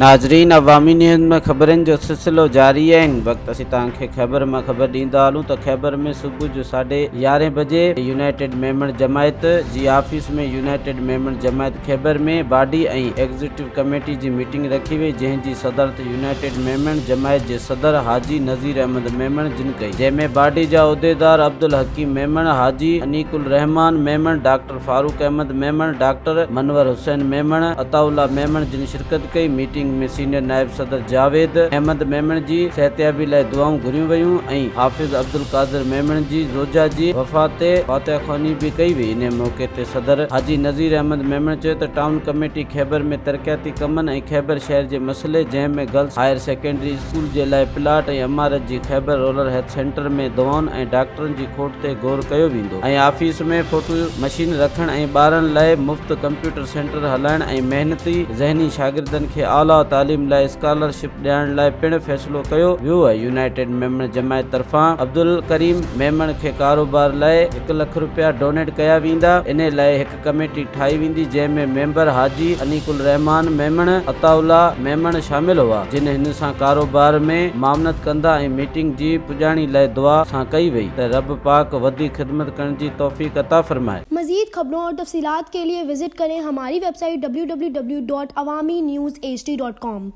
ناظرين عوامي نيوز ۾ خبرن جو سلسلو جاري آهي هن وقت اسين توهان کي خيبر مان خبر ڏيندا هلون ته خيبر ۾ صبح جو ساڍي يارهين بجي يونائيٽيڊ ميمڻ جماعت جي office ۾ United Memon Jamaat Khyber ۾ body ۽ executive committee جي ميٽنگ رکي وئي جنهن جي صدارت يونائيٽيڊ ميمڻ جماعت جي صدر حاجي نذير احمد ميمڻ جن ڪئي جنهن ۾ باڊي جا عهديدار عبدالحڪيم ميمڻ، حاجي انيق الرحمان ميمڻ، ڊاڪٽر فاروق احمد ميمڻ، ڊاڪٽر منور حسين ميمڻ، عطاء الله ميمڻ جن شرڪت ڪئي ميٽنگ ۾ سينيئر نائب صدر جاويد احمد ميمڻ جي صحتيابي لاء دعائون گهريون ويون ۽ حافظ عبدالقادر ميمڻ جي زوجها جي وفات تي فاتحه خواني به ڪئي وئي انهي موقعي تي صدر حاجي نذير احمد ميمڻ چيو ته ٽائون ڪميٽي خيبر ۾ ترقياتي ڪمن ۽ خيبر شهر جي مسئلي جنهن ۾ گرلس هائير سيڪنڊري اسڪول جي لاء پلاٽ ۽ عمارت جي خيبر رورل هيلٿ سينٽر ۾ دوائن ۽ ڊاڪٽرن جي کوٽ تي غور ڪيو ويندو ۽ آفيس ۾ فوٽو مشين رکڻ ۽ ٻارن لاء مفت ڪمپيوٽر سينٽر هلائڻ ۽ محنتي ذهني شاگردن کي اعليٰ تعليم لاء اسڪالر شپ ڏيارڻ لاء پڻ فيصلو ڪيو ويو آهي يونائيٽيڊ ميمڻ جماعت طرفان عبدالڪريم ميمڻ کي ڪاروبار لاء هڪ لک رپيا ڊونيٽ ڪيا ويندا انهي لاء هڪ ڪميٽي ٺاهي ويندي جنهن ۾ ميمبر حاجي انيق الرحمان ميمڻ، عطاء الله ميمڻ شامل هئا جن هن سان ڪاروبار ۾ معاونت ڪندا ۽ ميٽنگ جي پڄاڻي لئه دعا سان ڪئي وئي ته رب پاڪ وڌيڪ خدمت ڪرڻ جي توفيق عطا فرمائي. مزيد خبرون اور تفصيلات کے لئے وزٽ کریں ہماری ويب سائيٽ www.awaminews hd.com.